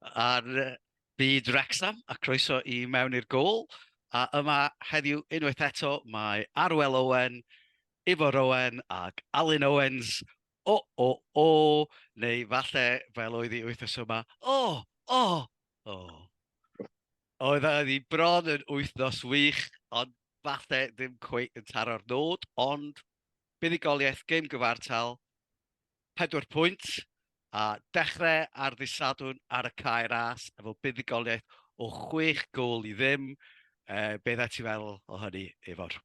ar fyd Wrecsam a croeso i mewn i'r gôl. A yma heddiw unwaith eto mae Arwel Owen, Ifor Owen ac Alun Owens, O O O! Neu falle fel oedd hi wythnos yma, O O O! Oedd hi bron yn wythnos wych ond falle ddim cweit yn taro'r nod ond buddugoliaeth gêm gyfartal pedwar pwynt a dechrau ar ddydd Sadwrn ar y cae ras efo buddugoliaeth o chwech gôl i ddim. Uh, be ddau ti fel o hynny, Efor?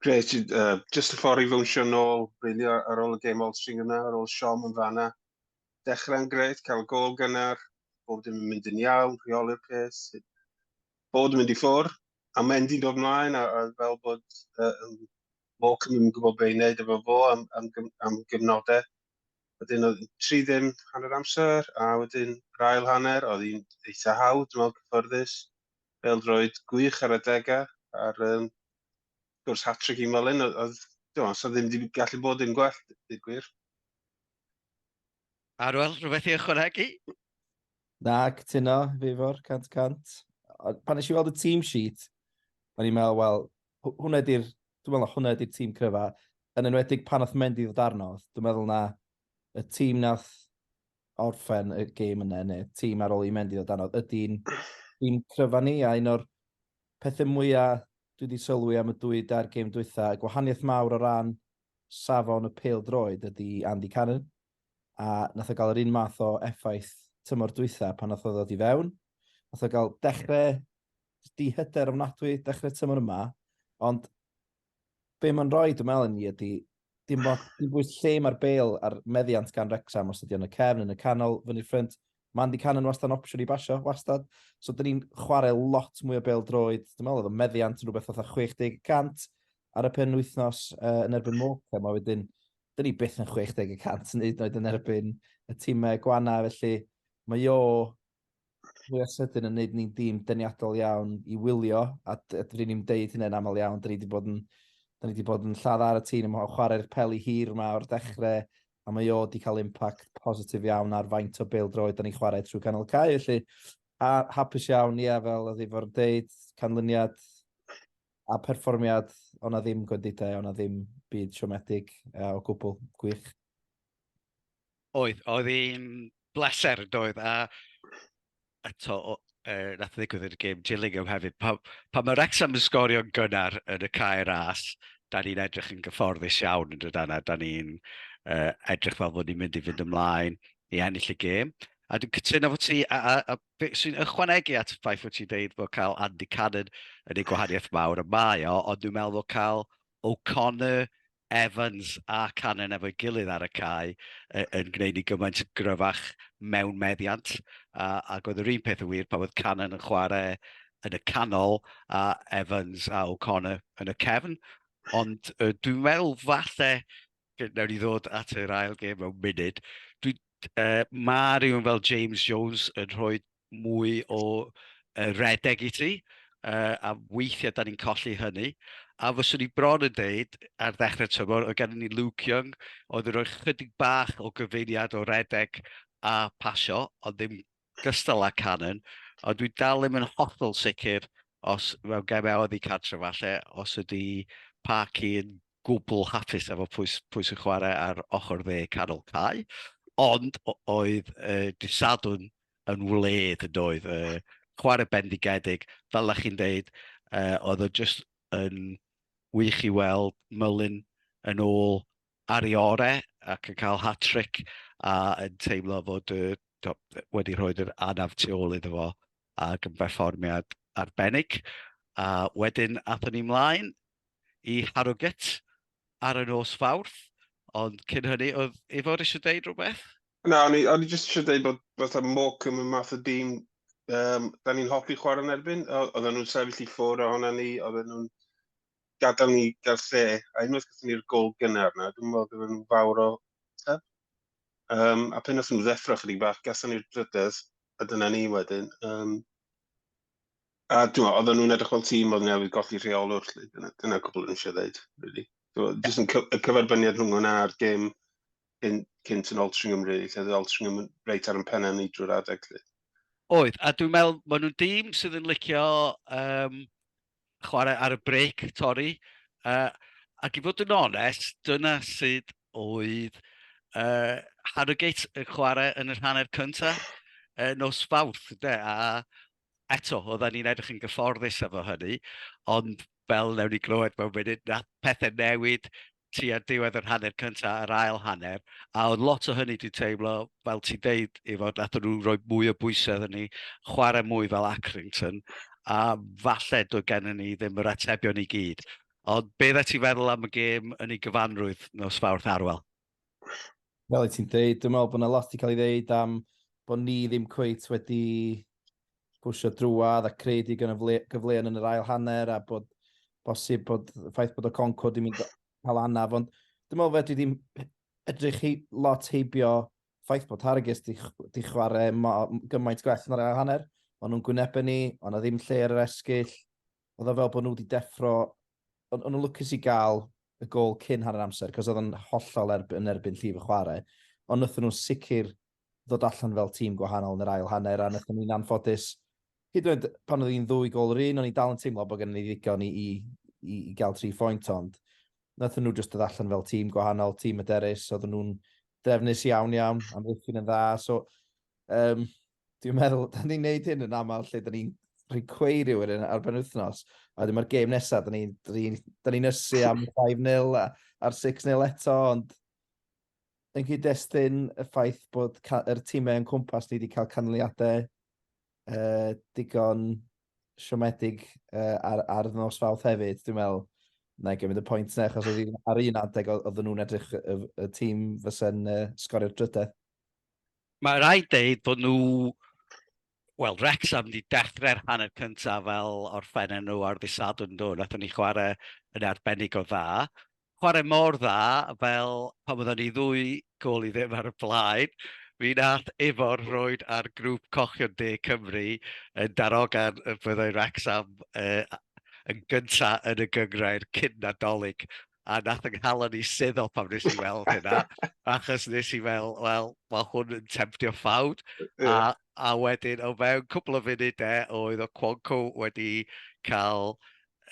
Grêt, uh, just y ffordd i fywnsio nôl, really, ar ôl y game all string yna, ar ôl siom yn fanna. Dechrau'n grêt, cael gol gynnar, bod yn mynd yn iawn, rheoli'r pes, bod yn mynd i ffwr, a Mendy'n dod mlaen, a, a fel bod uh, Moch yn mynd gwybod beth i wneud efo fo am, am, am gyfnodau. Wedyn oedd tri ddim hanner amser, a wedyn yr ail hanner, oedd hi'n eitha hawdd, dwi'n meddwl cyfforddus. Bel droed gwych ar adegau, a'r um, gwrs hat-trick i Molyn, oedd, dwi'n meddwl, ddim wedi gallu bod yn gwell, dwi'n gwir. Arwel, rhywbeth i ychwanegu? Na, cytuno, fi fawr, cant cant. Pan nes i weld y team sheet, o'n i'n meddwl, wel, hwnna ydy'r, dwi'n meddwl hwnna ydy'r tîm cryfa. Yn enwedig pan oedd Mendy ddod arno, dwi'n meddwl na y tîm nath orffen y gêm yna, neu tîm ar ôl i Mendy ddod arno, ydy'n tîm cryfa ni, a un o'r pethau mwyaf dwi wedi sylwi am y dwy dair gêm dwytha, y gwahaniaeth mawr o ran safon y pel droed ydy Andy Cannon, a nath o gael yr un math o effaith tymor dwytha pan nath o ddod i fewn. Nath o gael dechrau di hyder ofnadwy dechrau tymor yma, ond be mae'n rhoi, dwi'n meddwl, ni ydy, dim ond dim bwys lle mae'r bel a'r meddiant gan Rexham os ydy yn y cefn, yn y canol, fyny'r ffrind. Mae Andy Cannon wastad yn opsiwn i basio, wastad. So, dyn ni'n chwarae lot mwy o bel droed. Dwi'n meddwl oedd y meddiant yn rhywbeth fatha 60% ar y pen wythnos uh, yn erbyn Moca. Mae wedyn, dyn ni byth yn 60% yn hyd yn oed yn erbyn y tîmau gwana, felly mae o fwy o sydyn yn neud ni'n dîm deniadol iawn i wylio, a dyn ni'n deud hynny'n aml iawn, dyn ni wedi bod yn, dyn ni wedi bod yn lladd ar y tîm, yn chwarae'r peli hir yma o'r dechrau, a mae o wedi cael impact positif iawn ar faint o bêl droed dyn ni'n chwarae trwy canol cae, felly, a hapus iawn, ie, fel oedd efo'r deud, canlyniad a perfformiad, o'na ddim gwendidau, o'na ddim byd siomedig o gwbl, gwych. Oedd, oedd hi'n bleser yn doedd, a eto, er, nath ddigwydd yn y gêm Gillingham hefyd, pa, pa mae Wrexham yn sgorio'n gynnar yn y cair as, da ni'n edrych yn gyfforddus iawn yn dod yna, da ni'n uh, edrych fel bod ni'n mynd i fynd ymlaen i ennill y gêm. A dwi'n cytuno fod ti, a, a, a be sy'n ychwanegu at y ffaith fod ti'n deud bod cael Andy Cannon yn ei gwahaniaeth mawr y mae o, ond dwi'n meddwl bod cael O'Connor, Evans a Cannon efo'i gilydd ar y cae yn gwneud ni gymaint yn gryfach mewn meddiant a ac oedd yr un peth yn wir pan oedd Cannon yn chwarae yn y canol a Evans a O'Connor yn y cefn. Ond uh, dwi'n meddwl falle, nawr i ddod at yr ail gêm mewn munud, dwi, uh, mae rhywun fel James Jones yn rhoi mwy o redeg i ti, a weithiau dan ni'n colli hynny. A fyswn i bron yn dweud, ar ddechrau'r tymor, oedd gennym ni Luke Young, oedd yn rhoi chydig bach o gyfeiriad o redeg a phasio, ond ddim gystal â Cannon. Ond dwi'n dal ddim yn hollol sicr os mewn gemau oddi cartre falle, os ydy Parky yn gwbl hapus efo pwy sy'n chwarae ar ochr dde canol cae. Ond oedd dydd Sadwrn yn wled yn doedd. Uh, chwarae bendigedig, fel ych chi'n dweud, uh, oedd o just yn wych i weld Mylun yn ôl ar ei orau ac yn cael hat-trick a yn teimlo fod uh, do, wedi rhoi yr anaf tu ôl iddo fo ac yn berfformiad arbennig. A wedyn athyn ni mlaen i Harrogate ar y nos Fawrth, ond cyn hynny, oedd Ifor eisiau deud rhywbeth? Na, o'n i, o'n i jyst eisiau deud bod fatha Morecambe yn math o dîm um, da ni'n hoffi chwarae yn erbyn, oedden nhw'n sefyll i ffwrdd ohona ni, oedden nhw'n gadael ni gael lle, a unwaith gyda ni'r gol gynnar na, dwi'n meddwl gyda nhw'n fawr o teb. Um, a pen os nhw'n ddeffro chydig bach, gason ni'r drydedd, a dyna ni wedyn. Um, A ti'n oedd nhw'n edrych fel tîm oedd newydd golli rheolwr, lle. Dyna, dyna cwbl yn eisiau dweud, really. Ti'n jyst yn y cyferbyniad rhwng hwnna a'r gêm yn cynt yn Altringham, really, lle oedd Altringham reit ar yn pennau ni drwy'r adeg, lle. Oedd, a dwi'n meddwl, maen nhw'n dîm sydd yn licio um, chwarae ar y brec, torri. Uh, ac i fod yn onest, dyna sydd oedd uh, Harrogate yn chwarae yn yr hanner cyntaf uh, nos fawrth, de, a eto, oedden ni'n edrych yn gyfforddus efo hynny, ond fel newn ni glywed mewn munud, nath pethe newid tua diwedd yr hanner cynta a'r ail hanner, a oedd lot o hynny 'di teimlo, fel ti'n deud Ifor, nathon nhw roi mwy o bwysau iddon ni, chwarae mwy fel Accrington, a falle doedd gennon ni ddim yr atebion i gyd. Ond be oeddet ti'n feddwl am y gêm yn ei gyfanrwydd nos Fawrth, Arwel? Fel i ti'n dweud, dwi'n meddwl bod yna lot i cael ei ddeud am bod ni ddim cweit wedi pwysio drwad a creu di gyfleon yn yr ail hanner a bod bosib bod ffaith bod y Concord yn mynd cael anaf. Ond dwi'n meddwl fedri ddim edrych hi, lot heibio ffaith bod Hargis di, di chwarae gymaint gwell yn yr ail hanner. Ond nhw'n gwynebau ni, ond na ddim lle ar yr esgyll. oedd o fel bod nhw wedi deffro... O'n nhw'n lwcus i gael y gol cyn hanner amser, cos oedd o'n hollol erb- yn erbyn llif y chwarae. Ond wnaethon nhw sicr ddod allan fel tîm gwahanol yn yr ail hanner, a wnaethon ni'n anffodus, hyd yn oed pan oedd hi'n ddwy gol yr un, o'n i dal yn teimlo bod gen ni ddigon i, i, i, i gael tri phwynt, ond wnaethon nhw jyst dod allan fel tîm gwahanol, tîm yderus, oedden nhw'n drefnus iawn iawn, amddiffyn yn dda, so um, dwi'n meddwl, da ni'n neud hyn yn aml lle da ni'n rhoi cwei rhywun yn ar benwthnos, a wedyn mae'r gêm nesaf, da ni'n ni, da ni nysu am 5-0 a'r 6-0 eto, ond yn cyd-destun y ffaith bod yr tîmau yn cwmpas ni wedi cael canlyniadau uh, digon siomedig uh, ar, ar nos fawth hefyd, dwi'n meddwl, na i gymryd y pwynt na, achos oedd ar un adeg oedd nhw'n edrych y, y tîm fysa'n uh, sgorio'r drydedd. Mae rhaid deud bod nhw, wel, Rex am wedi dechrau'r hanner cyntaf fel orffennau nhw ar ddisadwn nhw, nath ni chwarae yn arbennig o dda. Chwarae mor dda fel pan oedden ni ddwy gol i ddim ar y blaen, mi nath Ifor roed ar grŵp cochion de Cymru yn darogan y byddai Rex am uh, yn gyntaf yn y gyngrair cyn Nadolig a nath yng nghalon i suddo pam nes i weld hynna, achos nes i fel, wel, mae hwn yn temptio ffawd, a, a wedyn o fewn cwbl o funudau oedd o Quonco wedi cael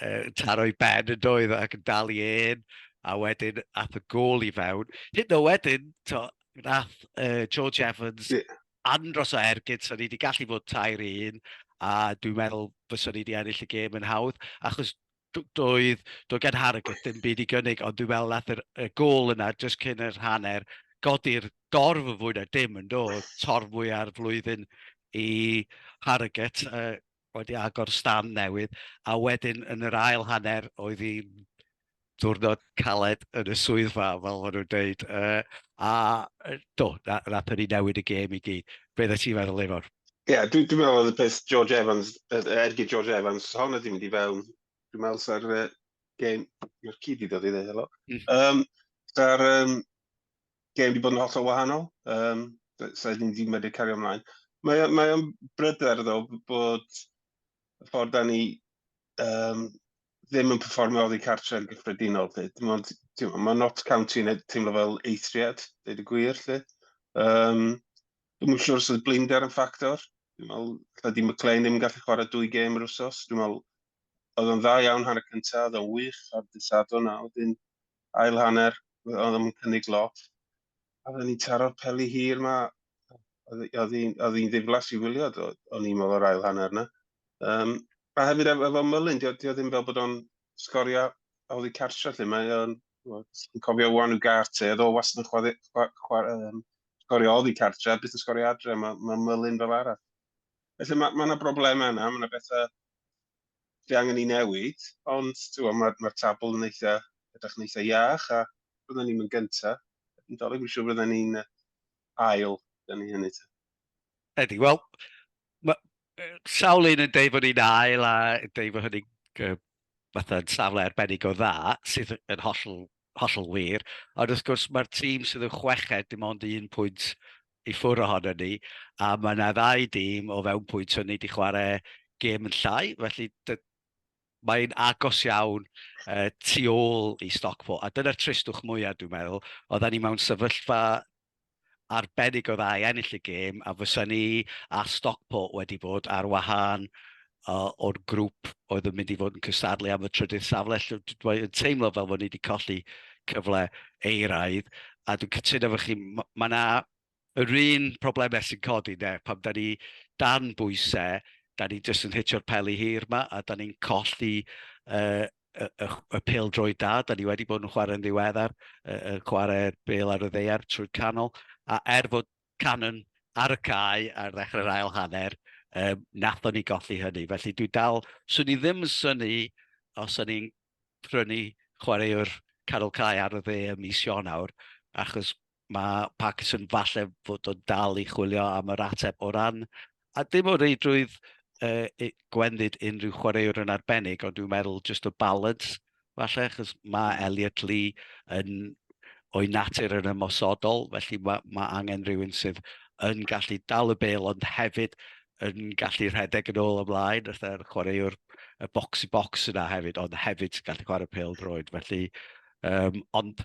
uh, taro i ben yn doedd ac yn dal i un, a wedyn ath y gol i fewn. Hyd o wedyn, to, nath uh, George Evans yeah. andros o ergyd, so ni wedi gallu fod tair un, a dwi'n meddwl fyswn ni wedi ennill y gêm yn hawdd, achos doedd, doedd gen Harrogate ddim byd i gynnig, ond dwi'n meddwl nath y gol yna, jyst cyn yr hanner, godi'r dorf yn fwy na dim yn do, torf mwy ar flwyddyn i Harrogate, uh, wedi agor stan newydd, a wedyn yn yr ail hanner oedd hi'n diwrnod caled yn y swyddfa, fel maen nhw'n dweud. Uh, a do, na, na peri newid y gêm i gyd. Be ddod ti'n meddwl, Efor? Ie, yeah, dwi'n dwi meddwl oedd y peth George Evans, ergi George Evans, hon ydi mynd i fewn, dwi'n meddwl sa'r uh, gêm, yw'r cyd i ddod i ddweud, helo. Mm. Um, sa'r um, gêm wedi bod yn hollol wahanol, um, sa'r ddim wedi medru cario ymlaen. Mae, mae o'n bryder ddo bod y ffordd da ni yym, ddim yn perfformio oddi cartre yn gyffredinol 'lly. Dim ond, timod, mae Notts County yn teimlo fel eithriad, dweud y gwir 'lly. Yym, dwi'm yn siŵr os oedd blinder yn ffactor. Dwi'n meddwl, lle di McLean ddim yn gallu chwarae dwy gêm yr wsos. Dwi'n meddwl, oedd o'n dda iawn hanner cyntaf, oedd o'n wych ar dydd Sadwrn a wedyn ail hanner, oedd o'n cynnig lot. A oedden ni'n taro'r peli hir ma. Oedd hi'n ddiflas i wylio, o'n i'n meddwl, yr ail hanner yna. Um, a hefyd efo, efo Mullin, dio, dio ddim fel bod o'n sgorio oddi cartre lle. Mae o'n, yn cofio wan yw Garte, oedd o wastad yn chwarae, chwarae, chwarae, um, sgorio oddi cartre, a byth yn sgorio adre, mae ma Mullin fel arall. Felly mae yna ma broblemau yna, mae yna bethau Fi angen i newid, ond ti'n mae'r ma tabl yn eitha, edrych yn eitha iach, a byddwn ni'n mynd gyntaf. Yn dolyg, fi'n siŵr byddwn ni'n ail, da ni hynny. Ydy, wel, sawl un yn deud bod ni'n ail a deud bod hynny'n uh, fatha yn safle arbennig o dda, sydd yn hollol, hollol wir. Ond wrth gwrs, mae'r tîm sydd yn chweched dim ond un pwynt i ffwrdd ohonon ni, a mae yna ddau dîm o fewn pwynt hynny 'di chwarae gêm yn llai, felly mae'n agos iawn uh, tu ôl i Stockport, a dyna'r tristwch mwyaf dwi'n meddwl, oedden ni mewn sefyllfa arbennig o dda i ennill y gêm, a fysa ni a Stockport wedi bod ar wahân uh, o'r grŵp oedd yn mynd i fod yn cystadlu am y trydydd safle. Dwi'n teimlo fel bod ni wedi colli cyfle eiraidd, a dwi'n cytuno fy chi, mae yna yr un problemau sy'n codi, ne, pam da ni dan bwysau, da ni jyst yn hitio'r peli hir yma, a da ni'n colli uh, y, y, y pil drwy da, da ni wedi bod yn chwarae'n ddiweddar, y, y chwarae bel ar y ddeiar trwy canol, a er fod Cannon ar y cae ar ddechrau'r ail hanner, um, nathon ni golli hynny. Felly dwi dal, swn i ddim yn syni os o'n i'n prynu chwaraewr canol cae ar y dde ym mis Ionawr, achos mae Parkinson falle fod o'n dal i chwilio am yr ateb o ran a dim o reidrwydd uh, gwendid unrhyw chwaraewr yn arbennig, ond dwi'n meddwl just o balance, falle, achos mae hmm. Elliot Lee yn o'i natur yn ymosodol, felly mae, mae angen rhywun sydd yn gallu dal y bel, ond hefyd yn gallu rhedeg yn ôl ymlaen, wrth e'r chwaraewr y box i box yna hefyd, ond hefyd gallu chwarae pel droed. Felly, um, ond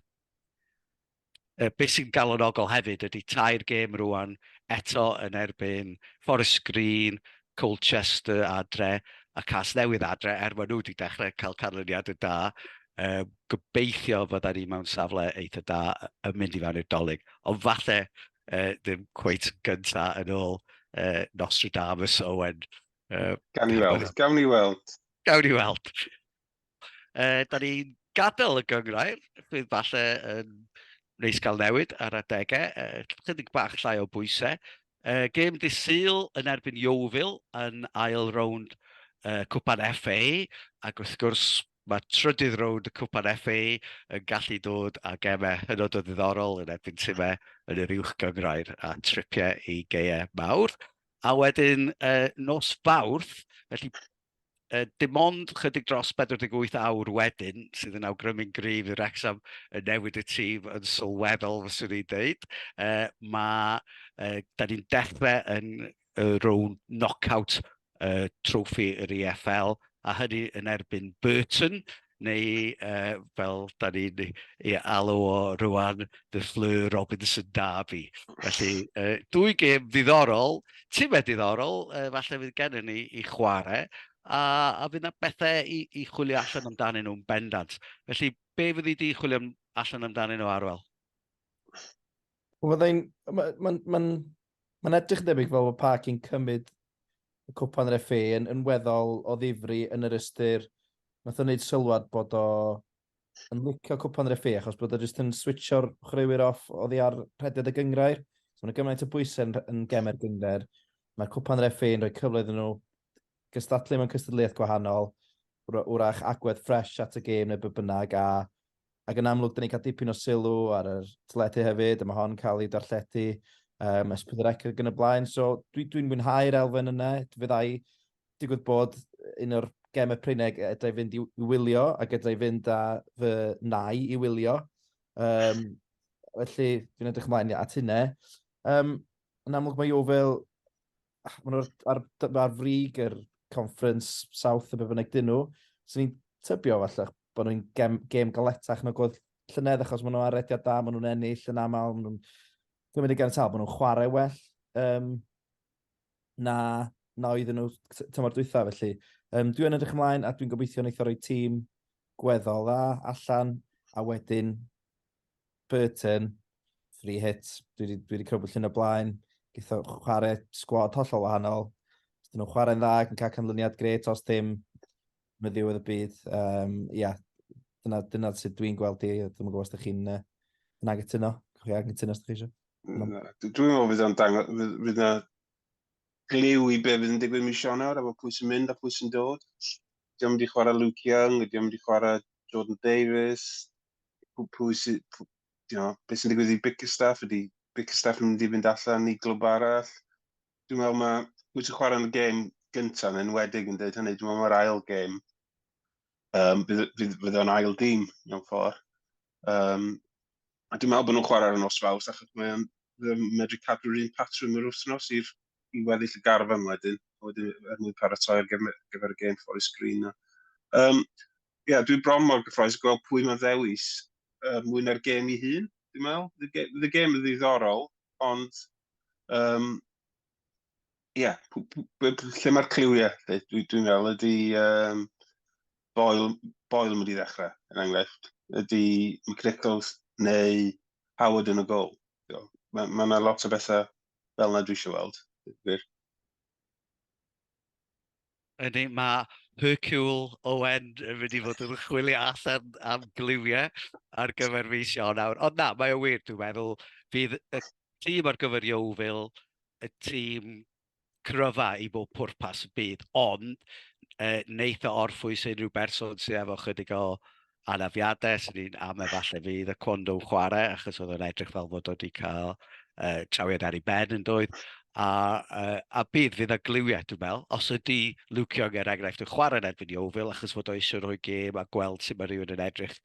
Be sy'n galonogol hefyd ydy tair gêm rŵan eto yn erbyn Forest Green, Colchester adre a Casnewydd adre, er maen nhw wedi dechrau cael canlyniadau da. Gobeithio fydda ni mewn safle eitha da yn mynd i fewn i'r Dolig, ond falle ddim cweit yn gynta yn ôl Nostradamus, Owen. Gawn ni weld, gawn ni weld. Gawn ni weld. Uh, da ni'n gadael y gyngrair, bydd falle yn neis gael newid ar adegau, uh, chydig bach llai o bwysau. Uh, gêm di syl yn erbyn Iowfil yn ail rownd uh, Cwpan FA, ac wrth gwrs mae trydydd rownd y Cwpan FA yn gallu dod a gemau hynod o ddiddorol yn erbyn tymau yn yr uwch gyngrair a tripiau i geiau mawr. A wedyn uh, nos fawrth, felly uh, dim ond chydig dros 48 awr wedyn, sydd yn awgrymu'n gryf i Wrexham yn newid y tîm yn sylweddol, fyswn i'n dweud. Uh, mae, uh, da ni'n dechrau yn y rown knockout uh, trofi yr EFL, a hynny yn erbyn Burton, neu yy fel 'dan ni'n ei alw o rŵan, The Fleur Robinson Derby. Felly, yy dwy gêm ddiddorol, timed diddorol, yy falle fydd gennym ni i chwarae, a a fydd 'na bethe i i chwilio allan amdanyn nhw'n bendant. Felly, be fyddi di chwilio allan amdanyn nhw, Arwel? Wel fyddai'n... mae'n Mae'n edrych yn debyg fel bod Parc yn cymryd y cwpan yr FA yn, yn weddol o ddifri yn yr ystyr nath o wneud sylwad bod o yn licio cwpan yr FA achos bod o jyst yn switcho'r chwaraewyr off oddi ar rhediad y gyngrair. So mae'n gymaint o bwysau yn, yn gemer gyngrair. Mae cwpan yr FA yn rhoi cyfle iddyn nhw gystadlu mewn cystadleuaeth gwahanol, wrach agwedd ffres at y gêm neu be bynnag, a ac yn amlwg, da ni'n cael dipyn o sylw ar yr teledu hefyd, a mae hon cael ei darlledu um, ysbryd yr ecr yn y blaen. So dwi'n dwi, mwynhau'r elfen yna. Fyddai digwydd bod un o'r gem y Pryneg edrai fynd i, i wylio ac edrai fynd â fy nai i wylio. Um, felly, dwi'n edrych ymlaen at hynna. Um, yn amlwg mae Jofel ah, ma' nhw ar d- ar frig yr conference south a be' bynnag 'dyn nhw. So ni'n tybio falle bod nhw'n gem gêm galetach nag o'dd llynedd achos ma' nhw ar rediad da ma' nhw'n ennill yn aml ma' nhw'n cymryd y ganiatâd ma' nhw'n chwarae well um, na na oedden nhw t- tymor dwytha felly um, dwi yn edrych ymlaen a dwi'n gobeithio neith o roi tîm gweddol dda allan a wedyn Burton, free hit, dwi wedi, dwi wedi crybwyll yn y blaen, gyda chwarae sgwad hollol wahanol. Os dyn nhw'n chwarae'n dda ac yn cael canlyniad gret, os dim, mae ddiwedd y byd. Um, ia, dyna, dyna sut dwi'n gweld i, dwi'n gwybod os ydych chi'n uh, yn aggytuno, chi aggytuno os ydych chi eisiau. Dwi'n meddwl fydd o'n dangos, fydd yna glyw i be fydd yn digwydd mis Ionawr, efo pwy sy'n mynd a pwy sy'n dod. Diolch yn mynd i chwarae Luke Young, diolch yn mynd i chwarae Jordan Davis, pwy sydd, you know, beth sy'n digwydd i Bickerstaff, ydy Bickerstaff yn mynd i fynd allan i glwb arall. Dwi'n meddwl mae pwy sy'n chwarae yn y gêm gyntaf yn enwedig yn dweud hynny, dwi'n meddwl mae'r ail gêm, um, fydd o'n ail dîm mewn ffordd. Um, a dwi'n meddwl bod nhw'n chwarae ar y nos faws, achos mae'n medru cadw'r un patrwm yr wythnos i'r i weddill y garfan wedyn, wedyn er mwyn paratoi'r gyfer y gêm Forest Green. Um, Ie, yeah, dwi bron mor gyffroes i gweld pwy mae'n ddewis uh, mwy na'r gêm i hun, dwi'n meddwl. Fydd y gêm yn ddiddorol, ond... Um, Ie, yeah, lle mae'r cliwiau? Dwi'n dwi, dwi meddwl ydy um, Boyle, Boyle mynd i ddechrau, yn er enghraifft. Ydy McNichols neu Howard yn y gol. Mae yna ma lot o bethau fel yna dwi eisiau weld. Yndi, mae Hercule Owen yn mynd i fod yn chwilio allan am gliwiau ar gyfer mis Ionawr. Ond na, mae o wir, dwi'n meddwl, bydd y tîm ar gyfer Yeovil, y tîm cryfa i bob pwrpas y byd, ond yy wneith o orffwys unrhyw berson sydd efo chydig o anafiadau, sy'n ni'n am efallai fydd y cwando chwarae, achos oedd o'n edrych fel fod wedi cael uh, trawiad ar ei ben yn dweud. A, uh, a bydd, fydd y gliwiau, dwi'n meddwl, os ydy Luke Young er enghraifft yn chwarae yn erbyn Iofil, achos fod o eisiau rhoi gêm a gweld sut mae rhywun yn edrych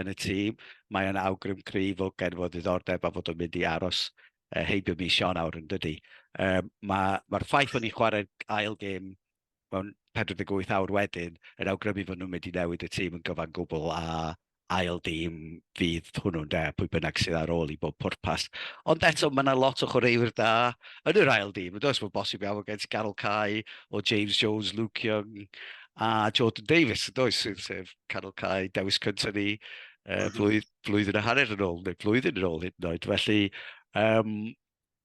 yn y tîm, mae o'n awgrym cryf o gen fod ddiddordeb a fod o'n mynd i aros uh, heibio mis Sion awr yn dydy. Um, Mae'r ma ffaith o'n i'n chwarae'r ail gêm mewn 48 awr wedyn yn awgrymu fod nhw'n mynd i newid y tîm yn gyfan gwbl a ail dîm fydd hwnnw ynde, pwy bynnag sydd ar ôl i bob pwrpas. Ond eto, mae yna lot o chwaraewyr da yn yr ail dîm, yn does? Mae'n bosib iawn gen ti Carol Cai, o James Jones, Luke Young a Jordan Davies, yn does? Sef, sef Carol Cai, dewis cyntaf ni uh, blwydd, blwyddyn a hanner yn ôl, neu blwyddyn yn ôl hyd yn oed. Felly, um,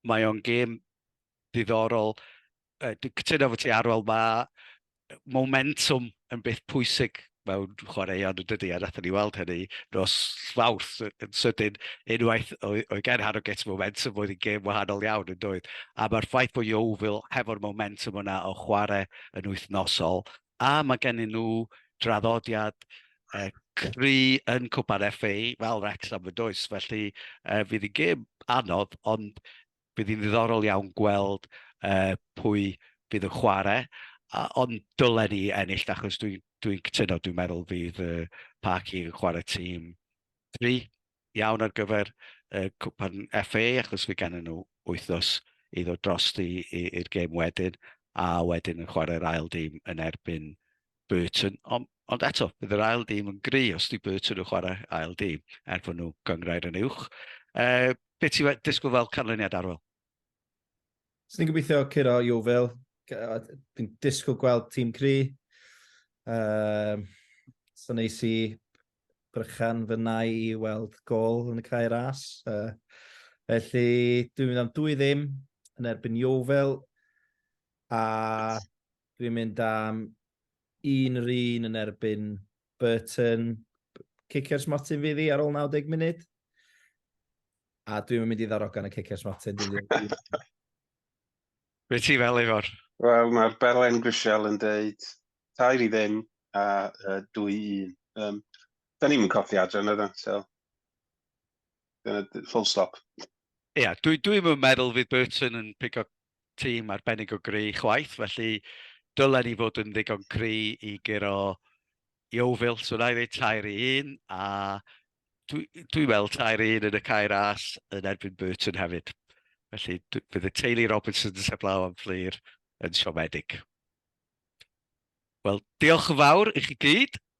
mae o'n gêm ddiddorol. Dwi'n cytuno efo ti Arwel, mae momentum yn beth pwysig mewn chwaraeon yn dydy, a nathon ni weld hynny nos Fawrth yn sydyn unwaith oedd oedd gen Harrogate momentum oedd yn gêm wahanol iawn yn doedd. A mae'r ffaith bod Yeovil hefo'r momentum yna o chwarae yn wythnosol a mae gennyn nhw draddodiad uh, cry yn Cwpan FA fel Wrexham yn does, felly uh, fydd yn gêm anodd ond bydd hi'n ddiddorol iawn gweld uh, pwy bydd yn chwarae, uh, ond dylen ni ennill, achos dwi'n dwi, dwi cytuno, dwi'n meddwl fydd uh, Parky yn chwarae tîm 3 iawn ar gyfer uh, cwpan FA, achos fi gan nhw wythnos i ddod drosti i'r gêm wedyn, a wedyn yn chwarae'r ail dîm yn erbyn Burton, ond, ond eto, bydd yr ail dîm yn gry os di Burton yn chwarae ail dîm, er bod nhw gyngrair yn uwch. E, beth ti'n disgwyl fel canlyniad arwel? Swn i'n gobeithio curo Jofil. Dwi'n disgwyl gweld tîm cry. Um, so neis i brychan fy nai i weld gol yn y cae ras. Uh, felly, dwi'n mynd am dwy ddim yn erbyn Jofil. A Dwi'n mynd am un yr un yn erbyn Burton. Cicio'r smotyn fydd i ar ôl 90 munud. A dwi'n mynd i ddarogan y cicio'r smotyn. Be ti fel efo'r? Wel, mae'r Belen Grisial yn deud tair i ddim a uh, dwy un. Um, da ni'n mynd codi adre yna, da. So, full stop. Ia, yeah, dwi'n dwi meddwl fydd Burton yn pigo tîm arbennig o gry chwaith, felly dylen ni fod yn ddigon cry i guro Iowfil. So na i ddweud tair i un, a dwi'n dwi weld tair i un yn y cair as yn erbyn Burton hefyd. Felly bydd y teulu Robinson yn seblaw am fflir yn siomedig. Wel, diolch yn fawr i chi gyd